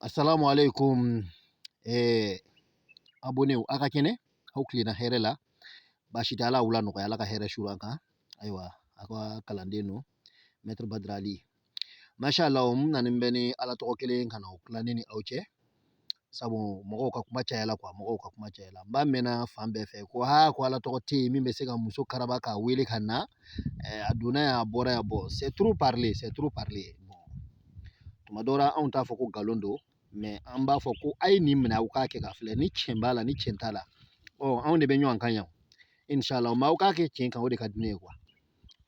Assalamu alaikum eh, abonew aw ka kɛnɛ aw tilenna hɛrɛ la baasi tɛ ala wula nɔgɔya ala ka hɛrɛ suru an kan ayiwa a ka kalanden don mɛtiri badirali masha allah n nani bɛ ni ala tɔgɔ kelen ka na o tila ne ni aw cɛ sabu mɔgɔw ka kuma caya la mɔgɔw ka kuma caya la n b'a mɛnna fan bɛɛ fɛ ko aa ko ala tɔgɔ tɛ yen min bɛ se ka muso karaba k'a wele ka na a donna yan a bɔra yan bon c'est trop parler c'est trop parler tuma dɔ anw t'a fɔ ko nkalon don mais an b'a fɔ ko a ye nin minɛ aw k'a kɛ ka filɛ ni cɛn b'a la ni cɛn t'a la ɔ anw de bɛ ɲɔgɔn kan yan inshallah mais aw k'a kɛ cɛn kan o de ka di ne ye quoi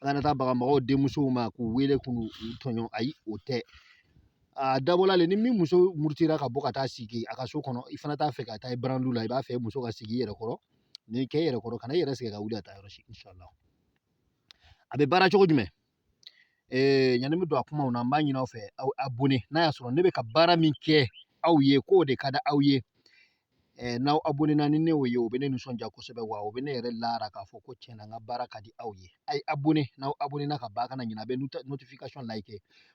an kana taa baga mɔgɔw denmusow ma k'u wele k'u tɔɲɔ ayi o tɛ a dabɔla le ni min muso murutira ka bɔ ka taa sigi a ka so kɔnɔ i fana t'a fɛ ka taa i burandu la i b'a fɛ muso ka sigi i yɛrɛ kɔrɔ nin kɛ i yɛrɛ kɔrɔ kana i yɛrɛ sɛgɛn ka wuli ka taa yɔrɔ si inshallah a bɛ baara cogo jumɛn ee yanni n bɛ don a kumaw na n b'a ɲini aw fɛ aw abonné n'a y'a sɔrɔ ne bɛ ka baara min kɛ aw ye k'o de ka di aw ye Ɛɛ n'aw abonena ni ne ye o bɛ ne nisɔndiya kosɛbɛ wa o bɛ ne yɛrɛ laara k'a fɔ ko tiɲɛ na n ka baara ka di aw ye a ye abone n'aw abonena ka ban a kana ɲinɛ a bɛ notification like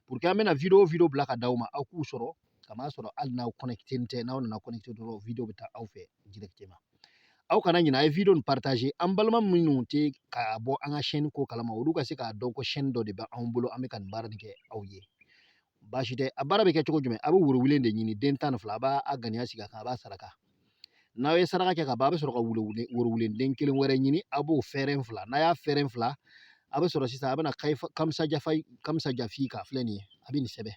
pour que an bɛna video o video bila ka d'aw ma aw k'u sɔrɔ ka n'a sɔrɔ hali n'aw connecté tɛ n'aw nana connecté dɔrɔn video bɛ taa aw fɛ directement aw kana ɲinɛ a ye video nin partager an balima minnu tɛ ka bɔ an ka chaîne ko kalama olu ka se k'a dɔn ko chaîne dɔ de bɛ anw bolo an bɛ ka nin baara nin kɛ aw ye baasi tɛ a baara bɛ kɛ cogo jumɛn a bɛ woro wulen de ɲini den tan ni fila a b'a ŋaniya sigi a kan a b'a saraka n'aw ye saraka kɛ ka ban a bɛ sɔrɔ ka wolo woro wulen den kelen wɛrɛ ɲini a b'o fɛrɛn fila n'a y'a fɛrɛn fila a bɛ sɔrɔ sisan a bɛna kamisa jafa kamisa jafi ka filɛ nin ye a bɛ nin sɛbɛn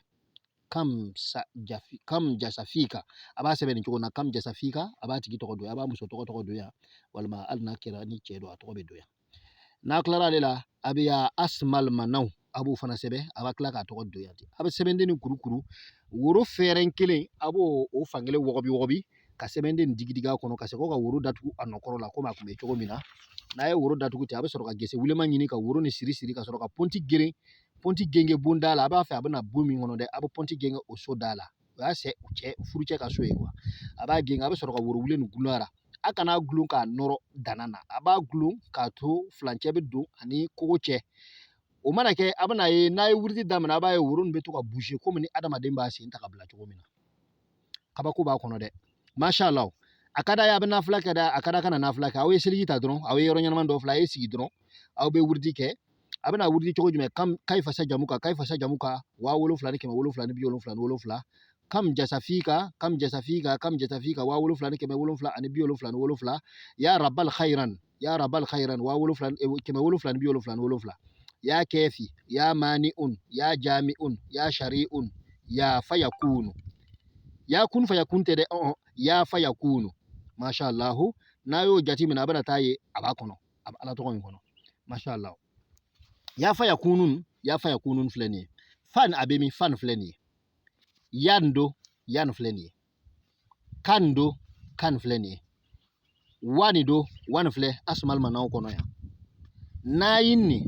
kamisa jafi kam jasafi ka a b'a sɛbɛn nin cogo na kam jasafi ka a b'a tigi tɔgɔ don a b'a muso tɔgɔ tɔgɔ don yan walima hali n'a kɛra ni cɛ don a tɔgɔ bɛ don yan n'a tilara ale la a bɛ y'a asimali manaw a b'o fana sɛbɛn a b'a tila k'a tɔgɔ don yan a bɛ sɛbɛnden nin kurukuru woro fɛrɛn kelen a b'o o fankelen wɔgɔbɛ wɔgɔbɛ ka sɛbɛnden digi digi a kɔnɔ ka segin ka woro datugu a nɔ kɔrɔ la komi a tun bɛ cogo min na n'a ye woro datugu ten a bɛ sɔrɔ ka gese wulenman ɲini ka woro nin siri siri ka sɔrɔ ka pɔnti geren pɔnti gengen bonda la a b'a fɛ a bɛna bon min kɔnɔ dɛ a bɛ pɔnti gengen o so da la o y'a cɛ cɛ furucɛ ka so ye quoi a b'a gɛn a bɛ sɔrɔ ka woro wulen nin gulon a la a kana gulon k'a nɔrɔ danan na a b'a gulon k'a to furancɛ bɛ don a ni kogo cɛ o mana kɛ a bɛn'a ye n'a ye wurudi daminɛ a b'a ye woro nin bɛ to ka bouger komi ni adamaden b'a sen ta ka bila cogo min na kabako b'a kɔnɔ dɛ masha Allah a ka d'a ye a bɛ nafila kɛ dɛ a ka d'a kana nafila kɛ aw ye seliji ta dɔrɔn aw ye yɔrɔ ɲɛnama dɔ filɛ a ye sigi dɔrɔn aw bɛ wurudi kɛ a bɛna wurudi cogo jumɛn kan kayi fasa jamuka kayi fasa jamuka waa wolonwula ni kɛmɛ wolonwula ni bi wolonwula ni wolonwula kam jasafi ka kam jasafi ka kam jasafi ka waa wolonwula ni kɛmɛ wolonwula ani bi wolonwula ni wolonwula ya rabal khairan ya rabal khairan waa wolonwula eh, kɛmɛ wolonwula ni bi wolonwula ni wolonwula ya kefi ya mani un ya jami un ya shari un ya faya kunu ya kun faya kun tɛ dɛ ya faya kunu masha allahu n'a y'o jate minɛ a bɛna taa ye a b'a kɔnɔ a bɛ ala tɔgɔ in kɔnɔ masha Allah ya faya kunu ya faya kunu filɛ nin ye fan a bɛ min fan filɛ nin ye yan don yan filɛ nin ye kan don kan filɛ nin ye wani don wani filɛ asumal manaw kɔnɔ yan nayin ni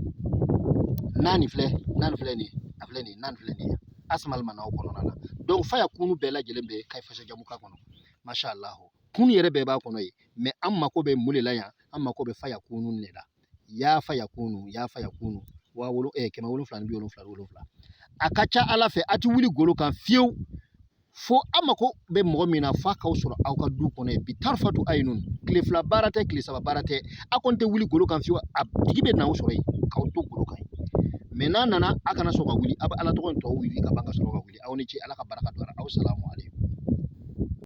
naani filɛ naani filɛ nin ye a filɛ nin ye naani filɛ nin ye asumal manaw kɔnɔna na donc faya kunu bɛɛ lajɛlen bɛ kayi fasa jamuka kɔnɔ masha Allah kun yɛrɛ bɛɛ b'a kɔnɔ ye mɛ an mako bɛ mun de la yan an mako bɛ faya kunu de la ya faya kunu ya faya kunu waa wolo eh, kɛmɛ wolonwula ni bi wolonwula wolonwula a ka ca ala fɛ a tɛ wuli golo kan fiyewu fo an mako bɛ mɔgɔ min na f'a k'aw sɔrɔ aw ka du kɔnɔ yen bi tarifatu ayinun tile fila baara tɛ tile saba baara tɛ a kɔni tɛ wuli golo kan fiyewu a tigi bɛ na aw sɔrɔ yen k'aw to golo kan mɛ n'a nana a kana sɔn ka wuli a bɛ ala tɔgɔ in tɔw wurudi ka ban ka sɔrɔ ka wuli aw ni ce ala ka barika don a la asalamu aleykum